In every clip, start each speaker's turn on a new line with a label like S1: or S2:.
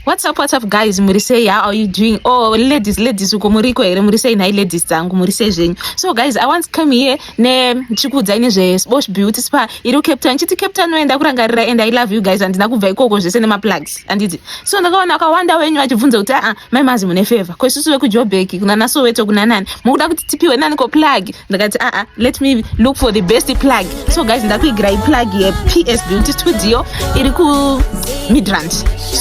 S1: What's up, what's up guys, muri sei, how are you doing? Oh, ladies, ladies, uko muriko here, muri sei nhai ladies dzangu, muri sei zvenyu? So guys, I once came here ne chikuudzai nezve Sports Beauty Spa iri Cape Town, chiti Cape Town noenda kurangarira and I love you guys, andina kubva ikoko zvese nema plugs, anditi. So ndakaona akawanda wenyu vachibvunza kuti ah, ah mai mazi mune favor, ko isusu vekuJoburg kuna naSoweto kuna nani, mukuda kuti tipiwe nani ko plug? ndakati aa ah, ah, let me look for the best plug so guys ndakuigirai plug yeps beauty studio iri kumidrand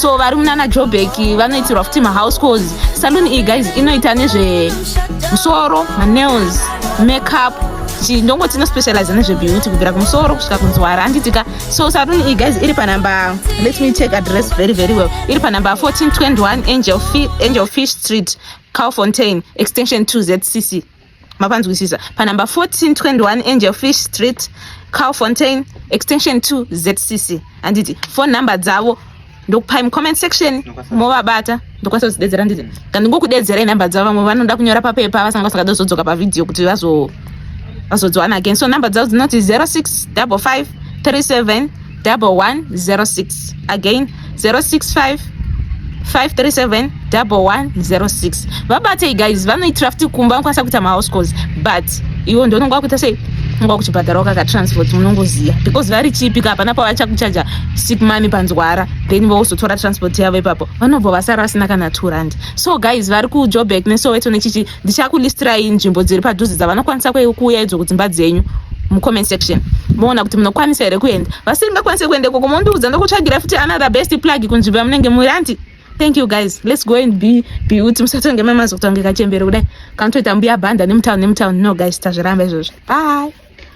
S1: so vari munana jobek vanoitirwa futi mahouse cause salon iyi guys inoita nezve musoro manails makeup chindongoti inospecializa nezvebeauty kubvira kumusoro kusvika kunzwara anditika so salon iyi guys iri panumber let me check address very very well iri panumber 1421 angel, angel fish street calfontain extension 2 zcc mapanzwisisa panumber 1421 angel fish street cal fontain extension 2 zcc handiti phone number dzavo ndokupai mucomment section movabata ndokwanisa kuzidedzera handiti ka ndingokudedzera inumber dzavo vamwe vanoda kunyora papepa vasanga vasingada kuzodzoka pavhidhiyo kuti vazodziwana again so number dzavo dzinoti 06 55 37 double one zero six again zero six five 537 double one zero six vabatei guys vanoitira futi kumba vanokwanisa kuita mahouse calls but iwo ndononga kuita sei unga kuchibhadhara wakakatransport unongoziva because vari chipika hapana pavachakuchaja sick money panzwara then vozotora transport yavo ipapo vanobva vasara vasina kana two rand so guys vari kujoburg nesoweto nechichi ndichakulistirai nzvimbo dziri padhuze dzavanokwanisa kuuya idzo kudzimba dzenyu mucomment section moona kuti munokwanisa here kuenda vasingakwanise kuenda ikoko mondiudza ndokutsvagira futi another best plug kunzvimbo yamunenge muri anti thank you guys let's go and be beauty musatonge mamazi kutongeka chembere kudai kanotoita mbuya bhanda nemutown nemutown no guys tazviramba izvozvo bye